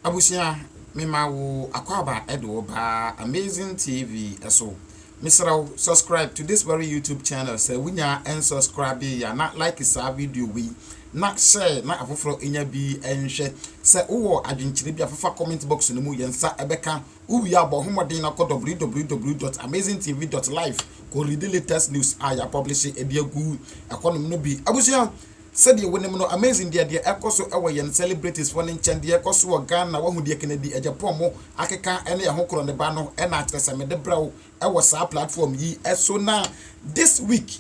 Abusua me ma wo akwaaba de wo ba amazing TV so mesrɛ wo subscribe to this very YouTube channel sɛ wo nya ɛn subscribe ya na like saa video wei na share na afoforɔ nya bi ɛnhwɛ sɛ wo wɔ adwenkyerɛ bi afafa comment box no mu yɛn nsa ɛbɛka Wowie a bɔ ho mmɔden na kɔ www.amazingtv.live kɔ readi latest news a yɛapɔblehye de agu ɛhɔnom no bi. Abusua, sɛdeɛ wonim no, Amazing deɛ deɛ ɛkɔ so wɔ yɛn celebritesfoɔ no nkyɛn, deɛ ɛkɔ so wɔ Ghana, woahu deɛ Kennedy Agyapong akeka ne ɛho korɔ ne ba no na akyerɛ sɛ mede brɛ wo wɔ saa platform yi so na this week,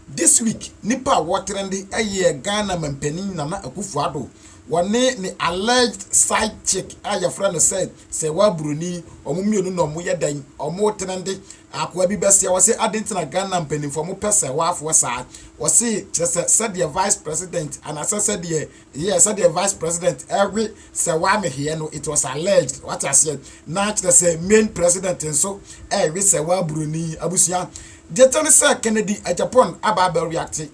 This week nipa a wɔtrende yɛ Ghana manpanin Nana Akuffo Addo, wɔne ne alleged side chick a yɛfrɛ no sɛ Sewaa Buroni, wɔn mmienu na wɔyɛ dɛn? Wɔtrende. Akoa bi bɛsea wɔ se adɛn nti na Ghana mpaninfoɔ wɔpɛ Sewaafoɔ saa? Wɔse kyerɛ sɛ sɛdeɛ Vice President anaasɛ sɛdeɛ Yɛ sɛdeɛ vice president we sɛ waa me hweɛ no it was alleged wate aseɛ na kyerɛ sɛ main president nso we sɛ waa buroni abusua deɛ kyɛ ne sɛ Kennedy Agyapong aba abɛ reacte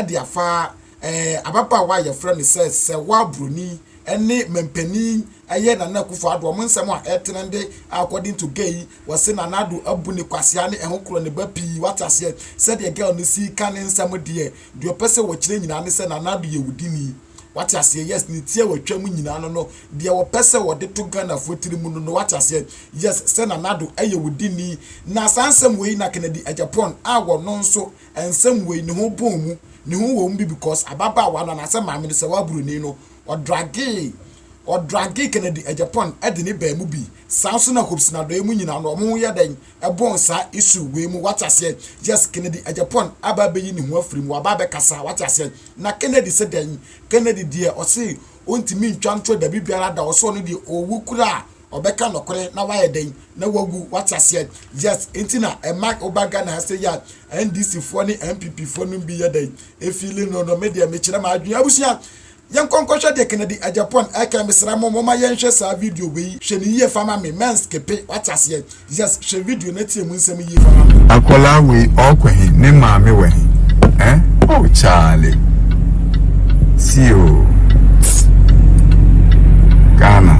de afa eh ababaawa a yɛfrɛ no sɛ sɛ waa buroni ne manpanin ɛyɛ Nana Akufo Addo wɔn nsɛm a ɛtrende according to gay wɔse Nana Addo abu ne kwasea ne ɛho korɔ ne ba pii wate aseɛ sɛdeɛ girl no sii ka ne nsɛm deɛ Deɛ ɔpɛ sɛ ɔkyerɛ nyinaa ne sɛ Nana Addo yɛ wo dini. Wate aseɛ? Yes, ne ti a watwa mu nyinaa no no, deɛ ɔpɛ sɛ ɔde to Ghanafoɔ tiri mu no no. Wate aseɛ? Yes, sɛ Nana Addo yɛ wo dini. Na saa nsɛm wei na Kennedy Agyapong a ɔno nso nsɛm wei ne ho bɔn mu, ne ho wɔ mu bi because ababaawa no anaasɛ maame no sɛ ɔyɛ Buroni no, ɔdragee, ɔdragee Kennedy Agyapong de ne baa mu bi. Saa nso na Hope Sinadoɛ mu nyinaa no, wɔn ho yɛ dɛn? Ɛbɔn saa issue wei mu wate aseɛ yes Kennedy Agyapong aba abɛyi ne ho afiri mu waba abɛkasa wate aseɛ na Kennedy se dɛn Kennedy deɛ ɔse ɔntumi ntwa ntorɔ dabi biara da ɔse ɔno deɛ ɔwu koraa a ɔbɛka nɔkorɛ na wayɛ dɛn na wawu wate aseɛ yes nti na ɛma woba Ghana ha seyɛ a NDC foɔ ne NPP foɔ nom bi yɛ dɛn ɛfiili no no me deɛ mekyerɛ m'adwene abusua Yɛnkɔ nkɔhwɛ deɛ Kennedy Agyapong ɛɛkɛ Mesrɛ mo momma yɛnhwɛ saa video wei Hwɛ no yie fa ma me Mɛnskipe wate aseɛ Yes hwɛ video na tie mu nsɛm yie fa ma me. Akwadaa wei ɔɔkɔ he? Ne maame wɔ he? Eh oh Charlie See oo Ghana.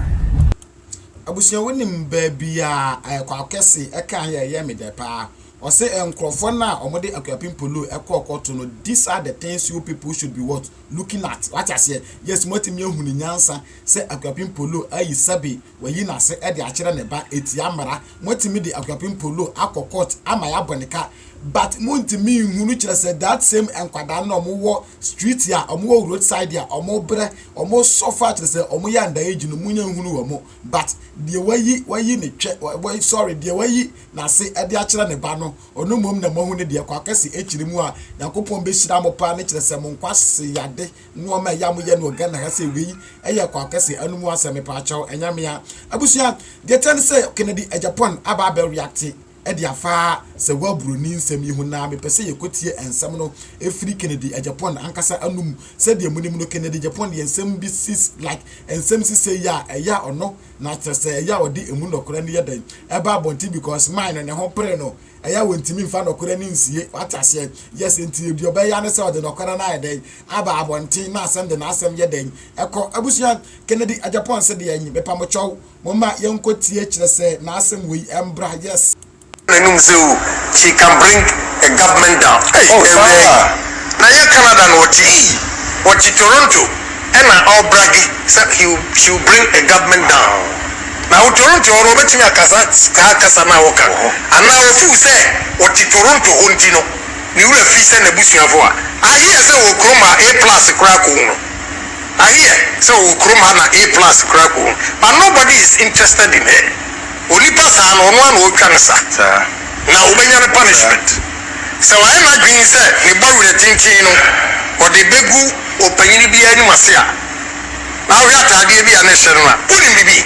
Abusua wonim baabia kwaku kɛse ɛkaa yɛ ɛyɛ me dɛ paa ɔse nkorɔfoɔ no a wɔde akuapem polo ɛkɔɔ kɔto no this are the things you people should be what looking at wate aseɛ yes moatumi ahu ne nyansa sɛ akuapem polo ayi sɛbe wayi n'ase ɛde akyerɛ ne ba ɛtia mmara moatumi de akuapem polo akɔ court ama yɛabɔ ne ka but mo ntumi nhu no kyerɛ sɛ that same nkwadaa no na wɔn wɔ street a wɔn wɔ road side a wɔn brɛ wɔn suffer kyerɛ sɛ wɔn yɛ under age no mo nya nhunu wɔn but deɛ wayi wayi ne twɛ wa sorry deɛ wayi n'ase ɛde akyerɛ ne ba no ɔno mmom na mo ahu ne deɛ kɔ akɛse akyiri mu a nyankopɔn bɛ hyira mo paa ne kyerɛ sɛ mo nkwa se yade nneɛma ɛyɛ mo yɛ no ɔgan na ha sɛ wei ɛyɛ kɔ akɛse ɛno mu asɛm mepaakyɛw ɛnyamea abusua deɛ kyɛn sɛ Kennedy Agyapong aba abɛ reacte de afa Sewaa Buroni nsɛm yi ho na mepɛ sɛ yɛkɔtie nsɛm no firi Kennedy Agyapong ankasa anom. Sɛdeɛ monim no, Kennedy Agyapong de nsɛm bi si, like nsɛm sisɛe yi a, ɛyɛ a ɔno na kyerɛ sɛ ɛyɛ a ɔde ɛmu nɔkorɛ no yɛ dɛn ɛba abɔnten because man no ne ho pere no, ɛyɛ a ɔntumi mfa nɔkorɛ no nsie. Wate aseɛ? Yes, enti deɛ ɔbɛyɛ ara ne sɛ ɔde nɔkorɛ no ayɛ dɛn? Aba abɔnten na asan de n'asɛm yɛ dɛn? Ɛkɔ. Abusua, Kennedy Agyapong se deɛn? Mepamkyɛw, Momma yɛnkɔ tie kyerɛ sɛ n'asɛm wei mbra yes. N'anum sɛ oh she can bring a government down ei awia yi na nyɛ Canada na ɔte ei ɔte Toronto ɛna ɔbrage sɛ he will she will bring a government down na wo Toronto hɔ no ɔbɛtumi akasa saa kasa no a woka anaa ɔfeel sɛ ɔte Toronto hɔ nti no ne werɛ fii sɛ n'abusuafo a I hear sɛ wɔ kurom a A plus koraa kɔ hu no. I hear sɛ ɔwɔ kurom ha na A plus koraa gu ho but nobody is interested in her. Onipa saa no ɔno ara na ɔretwa ne sa na ɔbɛnya ne punishment. Sɛ wayɛ n'adwene sɛ ne bɔ werɛ tenten no ɔde bɛgu ɔpanyin biara anim ase a, na wohwɛ ataadeɛ bi a na ɛhyɛ no no a, wonim biribi?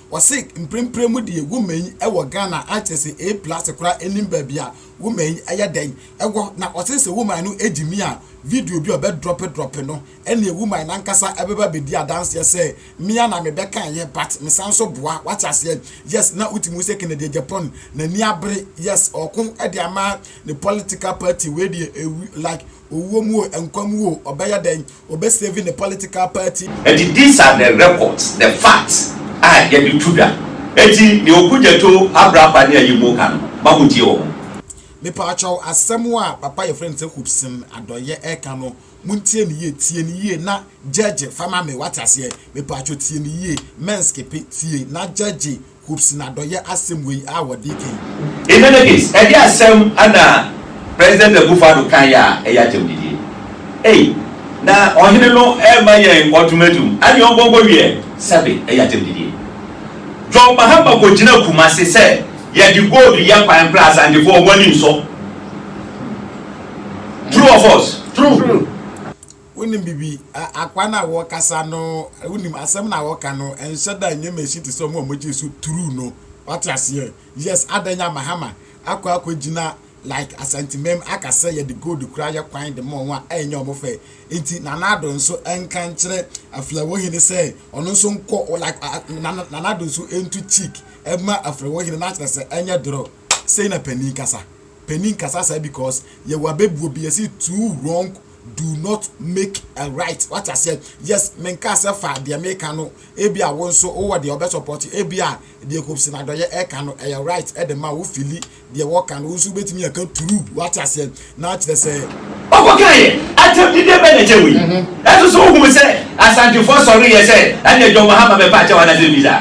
Wɔse mprempren mu deɛ wo main wɔ Ghana a kyerɛ sɛ A plus koraa nnim baabi a wo main yɛ dɛn wɔ na ɔse sɛ wo main no gye mi a video bi a ɔbɛ drop drop no ɛneɛ wo main ankasa bɛba abɛdi adanseɛ sɛ me ara na me bɛkaeɛ but me san so boa wate aseɛ yes na wotumi hu sɛ Kennedy Agyapong n'ani abere yes ɔɔko de ama ne political party wei deɛ ɛwu like Owuo mu o, nkwa mu o, ɔbɛyɛ dɛn? Ɔbɛ save ne political party. These are the records, the facts a yɛde tu dwa. Enti nea Okudzeto, Abrapa ne Ayimo ka no, ma montie wɔ ho. Mepaakyɛw, asɛm a papa a yɛfrɛ no sɛ Hubson Adɔyɛ reka no, montie no yie, tie no yie na gyɛgye fa ma me, woate aseɛ? Mepaakyɛw tie no yie, mɛnskipe, tie na gyɛgye. Hoops n'adɔyɛ asɛm wei a wɔde kan yi. Enemies, ɛde asɛm na President Akufo-Addo kaeɛ a ɛyɛ akyɛmdidie. Ei, na ɔhene no rema yɛn ultimatum, ɛne ɔnkɔnkɔ wieɛ, sɛbe ɛyɛ akyɛmdidie. John Mahama kɔgyina Kumasi sɛ yɛde gold yɛ kwan koraa Asantefoɔ wɔn ani nsɔ. True or false? True. Wonim biribi. Ɛ, akwa no a wɔkasa no, wonim, asɛm no a wɔka no, ɛnhyɛ da nyɛ machine te sɛ wɔn a wɔgye so turuu no. Wate aseɛ? Yes, adɛn nya Mahama akɔ akɔgyina like Asantemam aka sɛ yɛde gold koraa yɛ kwan de ma wɔn a ɛnyɛ wɔn fɛ. Enti Nana Addo nso nka nkyerɛ Aflɛwohene sɛ ɔno nso nkɔ, like, Nana Addo nso ntu cheek mma Aflɛwohene na akyerɛ sɛ ɛnyɛ dorɔ. Sei na panin kasa panin kasa saa because yɛwɔ abɛbuo bi yɛsi two wrong do not make a right wate aseɛ yes menkaa sɛ fa deɛ meka no ebi a wo nso wowɔ deɛ ɔbɛ support ebi a deɛ kɔpsi na dɔyɛ ɛka no ɛyɛ right ɛde ma wo fili deɛ wɔka no wo nso wobɛtumi ɛka true wate aseɛ Na kyerɛ sɛ. Ɔkɔ kaeɛ. Atɛmdidie bɛn na ɛkyɛn wei? Ɛnso so wohunu sɛ Asantefoɔ sɔreeɛ sɛ ɛneɛ John Mahama bɛpa akyɛw anaa sɛ visa?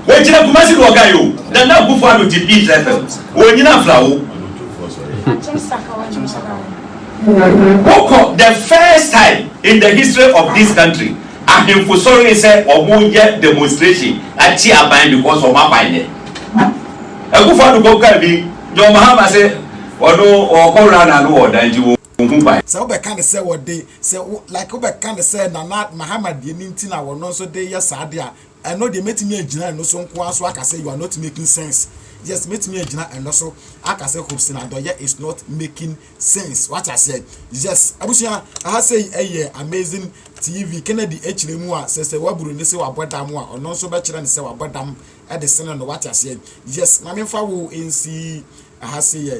Wɔgyina Kumasi na wɔkae o, Nana Akufo Addo te Peace FM, wɔnnyina afra wo. Wokɔ the first time in the history of this country ahemfo sɔree sɛ wɔn yɛ demonstration akye aban because wɔn aban yɛ. Akufo Addo kɔ kae bi, John Mahama se Wɔno wɔkɔ wura na no wɔ dan nti wɔnhu ban. Sɛ wobɛka no sɛ wɔde sɛ wo like wobɛka no sɛ Nana Mahama deɛ no nti na wɔno nso de yɛ saa adeɛ a, ɛno deɛ mɛtumi agyina ɛno so nko ara so aka sɛ you are not making sense. Yes, mɛtumi agyina ɛno so aka sɛ Hopsin Adɔyɛ is not making sense. Wate aseɛ? Yes. Abusua, ɛha sei ɛyɛ Amazing TV Kennedy akyire mu a sɛ sɛ waburu ne se wabɔ dam a, ɔno nso bɛkyerɛ no sɛ wabɔ dam de sene no. Wate aseɛ? Yes. Ma memfa wo nsi ɛha sei ɛ.